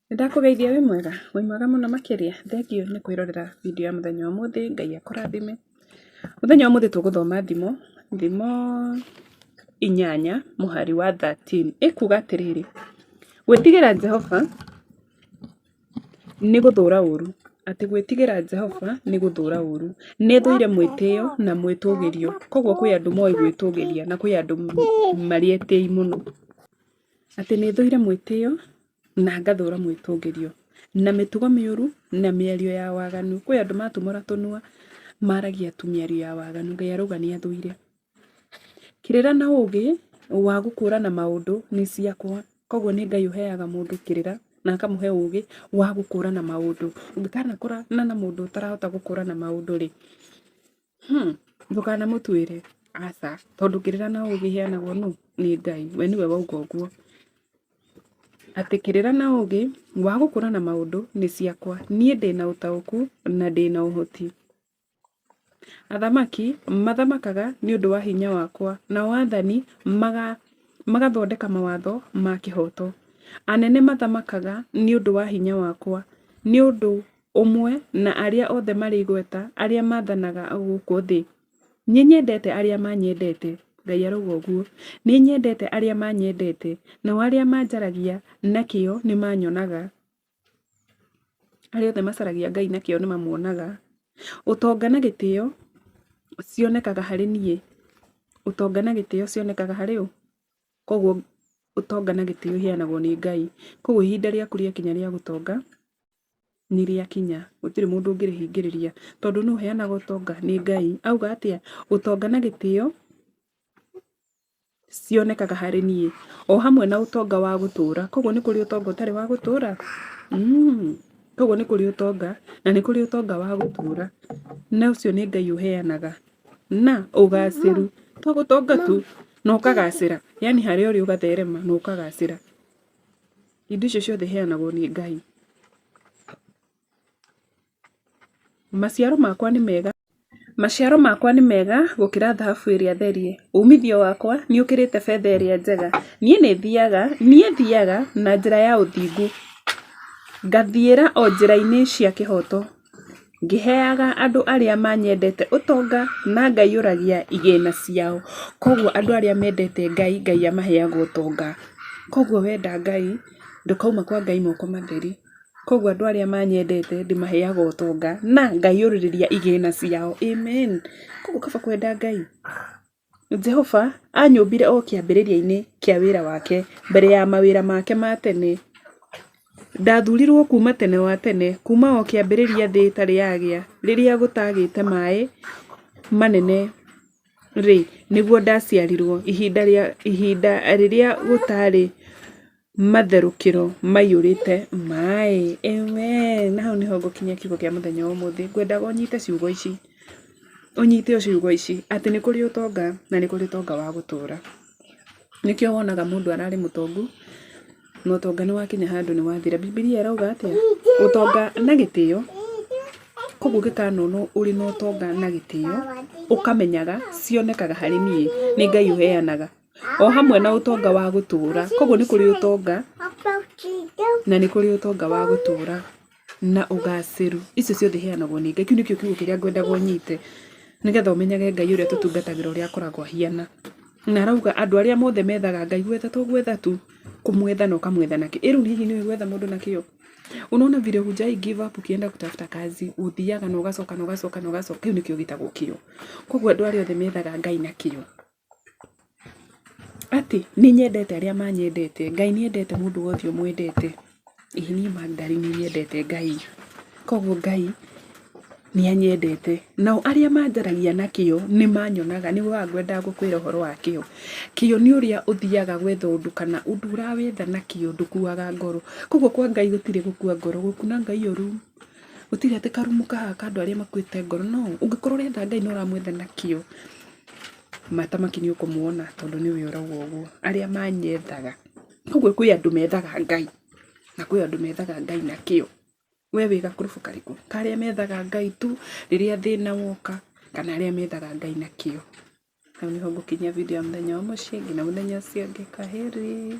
Nĩndakũgeithia wĩ mwega? Wĩ mwega mũno makĩria? Thengiũ nĩ kwĩrorera video ya mũthenya wa ũmũthĩ, Ngai akũrathime. Mũthenya wa ũmũthĩ tũgũthoma thimo, thimo inyanya mũhari wa thirteen. Ĩkuga atĩrĩrĩ, gwĩtigĩra Jehova nĩ gũthũra ũũru, atĩ gwĩtigĩra Jehova nĩ gũthũra ũũru. Nĩthũire mwĩtĩo na mwĩtũgĩrio, koguo kwĩ andũ moĩ gwĩtũgĩria na kwĩ andũ marĩ etĩi mũno. Atĩ nĩ thũire mwĩtĩo na ngathũra mwĩtũngĩrio, na mĩtugo mĩũru na mĩario ya waganu. Kwĩ andũ matumũra tũnua maragia tu mĩario ya waganu, Ngai arauga nĩ athũire. Kĩrĩra na ũgĩ wa gũkũrana maũndũ nĩ ciakwa. Koguo nĩ Ngai ũheaga mũndũ kĩrĩra na akamũhe ũgĩ wa gũkũrana maũndũ. Ũngĩkanakũrana na mũndũ ũtarahota gũkũrana maũndũ rĩ. Hmm, ndũkanamũtuĩre aca, tondũ kĩrĩra na ũgĩ iheanagwo nũ? Nĩ Ngai, we nĩwe wauga ũguo. Atĩ kĩrĩra na ũgĩ wa gũkũrana maũndũ nĩ ciakwa, niĩ ndĩna ũtaũku na ndĩna ũhoti. Athamaki mathamakaga nĩ ũndũ wa hinya wakwa, nao athani magathondeka mawatho ma kĩhoto. Anene mathamakaga nĩ ũndũ wa hinya wakwa, nĩ ũndũ ũmwe na arĩa othe marĩ igweta arĩa maathanaga gũkũ thĩ. Nĩ nyendete arĩa manyendete, Ngai arauga ũguo. Nĩ nyendete arĩa manyendete, nao arĩa manjaragia na kĩyo nĩ manyonaga. Arĩa othe macaragia Ngai na kĩyo nĩ mamuonaga. Ũtonga na gĩtĩo cionekaga harĩ niĩ. Ũtonga na gĩtĩo cionekaga harĩ ũ? Koguo ũtonga na gĩtĩo iheanagwo nĩ Ngai. Koguo ihinda rĩaku rĩakinya rĩa gũtonga nĩrĩakinya gũtirĩ mũndũ ũngĩrĩhingĩrĩria tondũ nũ ũheanaga ũtonga nĩ Ngai. Auga atĩa ũtonga na gĩtĩo cionekaga harĩ niĩ o hamwe na ũtonga wa gũtũra. Koguo nĩ kũrĩ ũtonga ũtarĩ wa gũtũra? Koguo nĩ kũrĩ ũtonga na nĩ kũrĩ ũtonga wa gũtũra na ũcio nĩ Ngai ũheanaga na ũgacĩru to gũtonga tu na ũkagacĩra yaani harĩa ũrĩ ũgatherema na ũkagacĩra. Indo icio ciothe iheanagwo nĩ Ngai. Maciaro makwa nĩ mega. Maciaro makwa nĩ mega gũkĩra thahabu ĩrĩa therie. Uumithio wakwa nĩ ũkĩrĩte betha ĩrĩa njega. Niĩ nĩ thiaga, niĩ thiaga na njĩra ya ũthingu, ngathiĩra o njĩra-inĩ cia kĩhooto. Ngĩheaga andũ arĩa manyendete ũtonga, na ngaiyũragia igĩna ciao. Koguo andũ arĩa mendete Ngai, Ngai amaheaga ũtonga. Koguo wenda Ngai, ndũkauma kwa Ngai moko matheri. Koguo andũ arĩa manyendete, ndĩmaheaga ũtonga, na ngaiyũrĩrĩria igĩna ciao. Amen. Koguo kaba kwenda Ngai. Jehova aanyũmbire o kĩambĩrĩria-inĩ kĩa wĩra wake, mbere ya mawĩra make ma tene. Ndathuurirũo kuuma tene wa tene, kuuma o kĩambĩrĩria thĩ ĩtarĩ yagĩa, rĩrĩa gũtaagĩte maĩ manene-rĩ, nĩguo ndaciarirũo, ihinda rĩrĩa gũtaarĩ. Matherũkĩro maiyũrĩte maĩ. Ewee! Na hau nĩho ngũkinyia kiugo kĩa mũthenya wa ũmũthĩ. Ngwendaga ũnyite ciugo ici, ũnyite ciugo ici, atĩ nĩ kũrĩ ũtonga, na nĩ kũrĩ ũtonga wa gũtũũra. Nĩkĩo wonaga mũndũ ararĩ mũtongu, na ũtonga nĩ wakinya handũ nĩ wathira. Bibilia ĩrauga atĩa? Ũtonga na gĩtĩo. Kũguo ũngĩkanonwo ũrĩ na ũtonga na gĩtĩo, ũkamenyaga, cionekaga harĩ niĩ, nĩ Ngai ũheanaga. o hamwe na ũtonga wa gũtũũra. Koguo nĩ kũrĩ ũtonga na nĩ kũrĩ ũtonga wa gũtũũra na ũgacĩru. Icio ciothe iheanagwo nĩ Ngai. Kĩu nĩkĩo kiugo kĩrĩa ngwendaga ũnyite nĩgetha ũmenyage Ngai ũrĩa tũtungatagĩra ũrĩa akoragwo ahiana. Na arauga andũ arĩa mothe methaga Ngai gwetha to gwetha tu, kũmwetha na ũkamwetha na kĩo. Ĩ rĩu hihi nĩ ũĩ gwetha mũndũ na kĩo? Unaona vile hujai give up ukienda kutafuta kazi, ũthiaga na ũgacoka na ũgacoka na ũgacoka. Kĩu nĩkĩo gĩtagwo kĩo. Koguo andũ arĩa othe methaga Ngai na kĩo. Atĩ nĩ nyendete arĩa manyendete, Ngai nĩ endete mũndũ wothe ũmwendete. Ĩĩ niĩ Makdari nĩ nyendete Ngai, koguo Ngai nĩ anyendete. Nao arĩa manjaragia na kĩo nĩ manyonaga, nĩ ũkoraga ngwendaga gũkwĩra ũhoro wa kĩo. Kĩo nĩ ũrĩa ũthiaga gwetha ũndũ kana ũndũ ũrawetha na kĩo ndũkuaga ngoro. Koguo kwa Ngai gũtirĩ gũkua ngoro, gũkuna Ngai ũru. gũtirĩ atĩ karumu kahana ka andũ arĩa makuĩte ngoro no ũngĩkorwo ũrenda Ngai na ũramwenda na kĩo maita maingĩ nĩ ũkũmwona tondũ nĩwe ũrauga ũguo arĩa manyendaga. Koguo kwĩ andũ methaga Ngai na kwĩ andũ methaga Ngai na kĩo. We wĩ gakũrũbu karĩkũ? Ka arĩa methaga Ngai tu rĩrĩa thĩna woka kana arĩa methaga Ngai na kĩo? Hau nĩho ngũkinyia video ya mũthenya wa ũmũciĩ nginya mũthenya ũcio ũngĩ. Kwaheri.